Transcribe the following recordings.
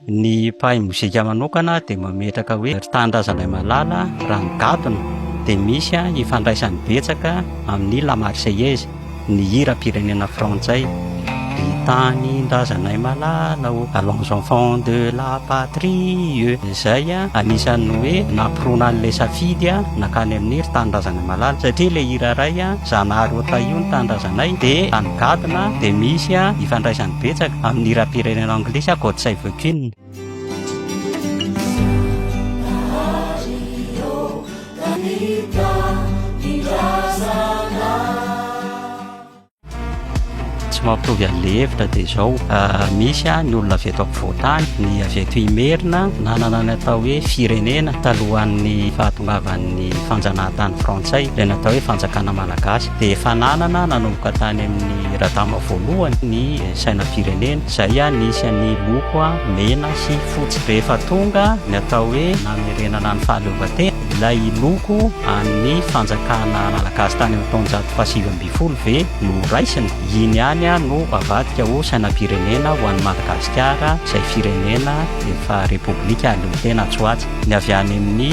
Ny mpahay mozika manokana dia mametraka hoe ry tanindrazanay malala raha ny gadona dia misy ifandraisany betsaka amin'ny La Marseillaise, ny hiram-pirenena frantsay, Ry tanindrazanay malala ô, allons enfants de la patrie e, izay anisan'ny hoe nampirona an'ilay safidy nankany amin'ny ry tanindrazanay malala satria ilay hira iray Zanahary ô Tahio ny tanindrazanay dia tany gadona dia misy ifandraisany betsaka amin'ny hiram-pirenena anglisy aho, God Save the Queen. Tsy mampitovy an'ilay hevitra dia izao, misy ny olona avy eto ampovoan-tany, ny avy eto Imerina, nanana ny atao hoe firenena talohan'ny fahatongavan'ny fanjanahantany frantsay, izay natao hoe fanjakana malagasy, dia efa nanana nanomboka tany amin'ny Miradama voalohany ny sainam-pirenena. Izay ihany ny isan'ny loko mena sy fotsy. Rehefa tonga ny atao hoe namerenana ny fahaleovantena, ilay loko an'ny fanjakana malagasy tany amin'ny taonjato fahasivy ambin'ny folo ve no raisina? Iny ihany no avadika ho sainam-pirenena ho an'i Madagasikara, izay firenena efa repoblika aleotena atsy ho atsy. Ny avy any amin'ny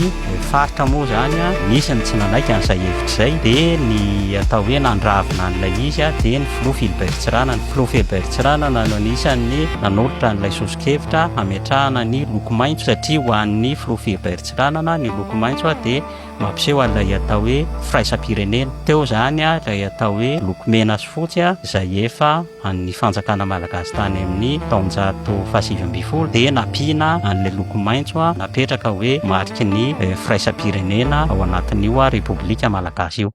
faritra moa izany an, nisy ny tsy nanaiky an'izay hevitra izay, dia ny atao hoe nandravona an'ilay izy dia ny filoha Philbert Tsirana. Ny filoha Philbert Tsirana no anisan'ny nanolotra an'ilay soso-kevitra hametrahana ny loko maitso satria ho an'ny filoha Philbert Tsiranana ny loko maitso dia Mampiseho an'ilay atao hoe firaisam-pirenena. Teo izany ilay atao hoe loko mena sy fotsy izay efa an'ny fanjakana malagasy tany amin'ny taonjato fahasivy ambin'ny folo dia nampiana an'ilay loko maitso napetraka hoe mariky ny firaisam-pirenena ao anatin'io Repoblika malagasy io.